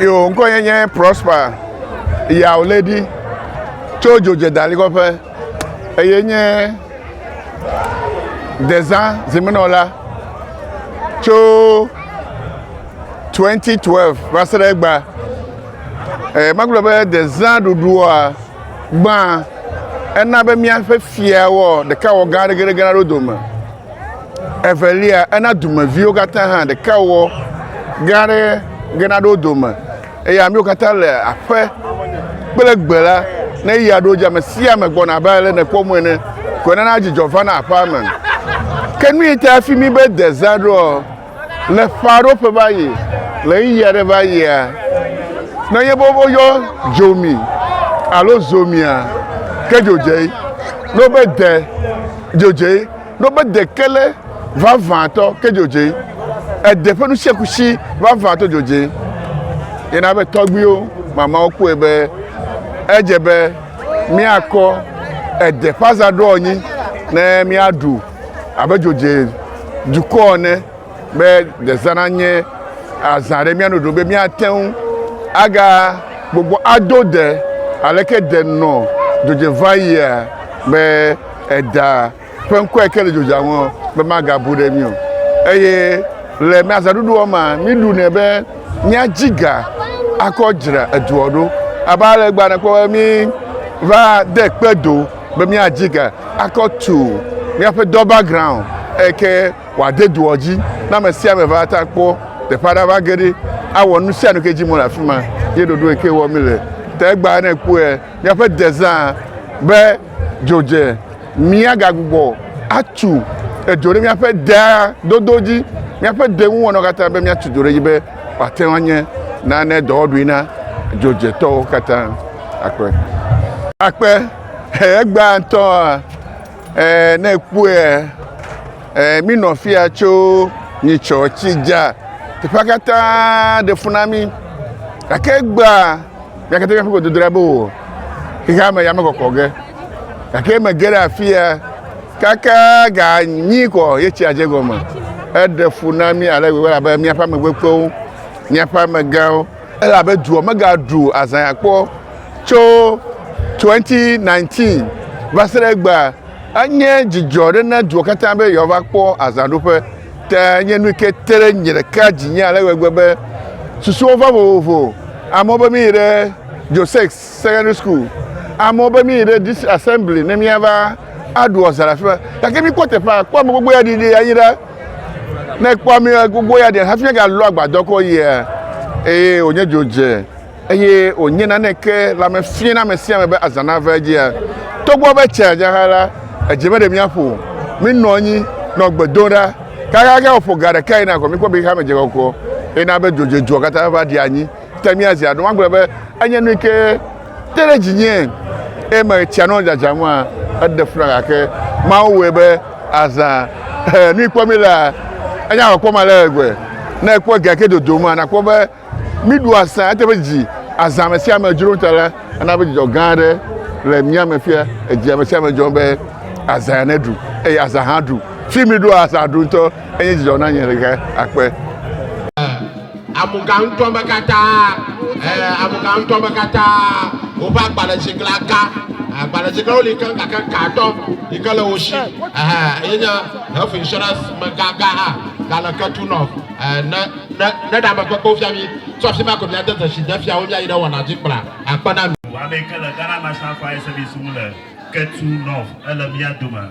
yo ŋkɔ yɛ nye prosper yawo le ɖi tso dzodzedalikɔƒe eye nye dezã zimenɔla tso 2012 va se ɖe egba. Eh, magblɔ be dezã ɖuɖua gbã ena be míaƒe fiawɔ ɖeka wɔ gã ɖegeɖege na ɖo dome. Evelia ena dumeviwo katã hã ɖeka wɔ gã ɖe ge na ɖo dome. Eye amewo katã le aƒe kple gbe la ne ya ɖo dzi ame sia ame gbɔna abe ale nekpɔ mɔ ene. Ko nana dzidzɔ va na aƒea me. Ke nu yi ta fi mi be dezã ɖoa? Le Faroƒe va yi, le ɣeyiɣi aɖe va yia, ne nye be woyɔ dzomi alo zomia, ke dzodzee, ne wobe de, dzodzee, ne wobe de ke le vavãtɔ, ke dzodzee, ede ƒe nusiakusi vavãtɔ dzodzee. Ye na be tɔgbuiwo, mamawo kpɔe be edze be míakɔ ede ƒe azaɖoanyi ne míaɖu. abe dzodze dukɔ ene be dezã nanye azã ɖe mía nu ɖo be míate ŋu aga gbogbo ado de aleke de nɔ dzodze va yia be eda ƒe ŋkɔe ke le dzodzea ŋu be magabu ɖe mí o eye le mía azãɖuɖuɔ mea míɖunɛ be míadzi ga akɔ dzra eduɔ ɖo abe ale gbane kpɔ be mí va de kpe do. be míadzi ge akɔ tu míaƒe dɔ background eyi ke wòade doɔ dzi ne ame sia ame va ta kpɔ teƒe aɖe va ge ɖi awɔ nu sia nu ke dzi mo le afi ma ye ɖoɖo yi ke wɔ mi le te egba ne kpɔe míaƒe dezã be dzodze míagagbugbɔ atu edzo ɖe míaƒe dea dodo dzi míaƒe de ŋu wɔnɔ katã be míatu dzo ɖe dzi be wòate ŋu anye nane dɔwɔɖui na dzodzetɔwo katã. akpe. Akpe, egbea ŋutɔa, ne ekpɔe, mi nɔ fia tso nyitsɔ tsi dza, teƒea katã ɖe fu na mi. Gake egbea, mía katã míaƒe gbedodoɖa be wò xexea me ya mekɔkɔ ge. Gake mege ɖe afia kaka ga nyi kɔ ye tsia dze gɔme. Eɖe fu na mi ale gbegbe elabe míaƒe amegbekpewo, míaƒe amegãwo. Elabe dua megaɖu azãya kpɔ tso 2019 va se ɖe egbea. Enye dzidzɔ aɖe na dua katã be yewoava kpɔ azãɖuƒe. Ke enye nu yi ke te ɖe nye ɖeka dzinye ale gbegbe be susuwo va vovovo. Amewo be míyi ɖe Josex Secondary School, amewo be míyi ɖe District Assembly ne míava aɖu azã le afi ma. Gake míkpɔ teƒea, kpɔ ame gbogbo ya ɖiɖi anyi ɖa. Ne kpɔ mi gbogbo ya ɖe hafi agalɔ agbadɔ kɔ yia, eye wònye dzodze, eye wònye naneke le ame fia na ame sia ame be azã nava edzia, togbɔ be tsia dza hã la, edze meɖe míaƒo o. Minɔ anyi, nɔ gbe dom ɖa, kaxaxe wòƒo ga ɖeka yina ko mikpɔ be xexea me dze kɔkɔ, eye na be dzodzedzua katã va ɖi anyi te míazi aɖo. Magblɔ be enye nu yi ke Te ɖe dzinye, eye mele tsia nɔ dzadzam hã, eɖe fu na gake Mawu wɔe be azã. Ɛɛ, nu yi kpɔ mí lea, enye alɔ kpɔm ale gbegbe. Ne èkpɔ egea ke dodom la, nàkpɔ be mí ɖu azã. Ete be dzi azã ame sia ame dzrom ta la, ena be dzidzɔ gã aɖe le mía me fia. Edzi ame sia ame dzrom be azã neɖu eye azã hã ɖu. Fi mí ɖoa azã ɖu ŋutɔ. Eye dzidzɔ na nye ɣe akpe. Amugã ŋutɔ me katã, e, amugã ŋutɔ me katã, woƒe agbalẽtsiklã ka. Agbalẽtsiklãwo li keŋ gake katɔ yi ke le wo si, ɛhɛ, ye nye Health Insurance mega gã hã gale ketu nɔ, e, ne, ne, ne ɖeamekpekpewo fia mí. Tso afi ma ko míade dzesi defia wo míayi ɖe wɔna dzi kplaa. Akpe na mi. Wame yi ke le Ghana National Fire Service ŋu le ketu nɔ, ele mía dome.